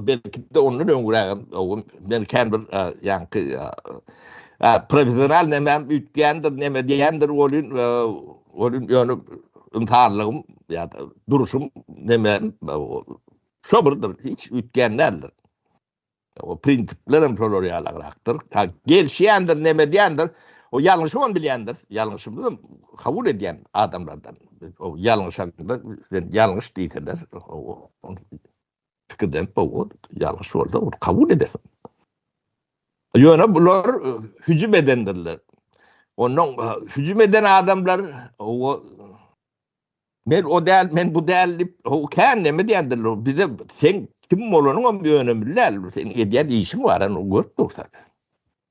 Belki-de ondan öňräk hem, o, men kän bir, e, ýaňky, e, e, professional nämem üýtgändir, näme diýendir welin, e, welin ýöne ynsanlygym ýa-da duruşym näme, e, şo birdir, hiç üýtgän däldir. O prinsipler hem şolar ýalagrakdyr. Ta gelşýändir, näme diýendir, o ýalňyşy hem bilýändir, ýalňyşymy hem kabul edýän adamlardan. O ýalňyşanda, sen ýalňyş diýseler, o, pikirden owal ýalňyş bolsa ony kabul edersiň. Ýöne bular e, hüjüm edendirler. Ondan e, hüjüm eden adamlar o men o däl, men bu däl diýip, o kän näme diýendirler. Bize sen kim bolanyň hem önemli däl. Sen edýän işiň bar, ony görüp dursan.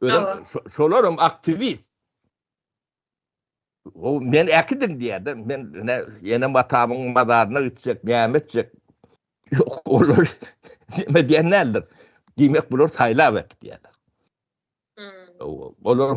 Özüm şolaram aktivist. O men äkidim diýerdi. Men ne ýene matamyň mazaryna gitjek, näme etjek? Ýok, olar näme diýenlerdir. Diýmek, bular saýlap etdi diýerdi. Hmm. Olar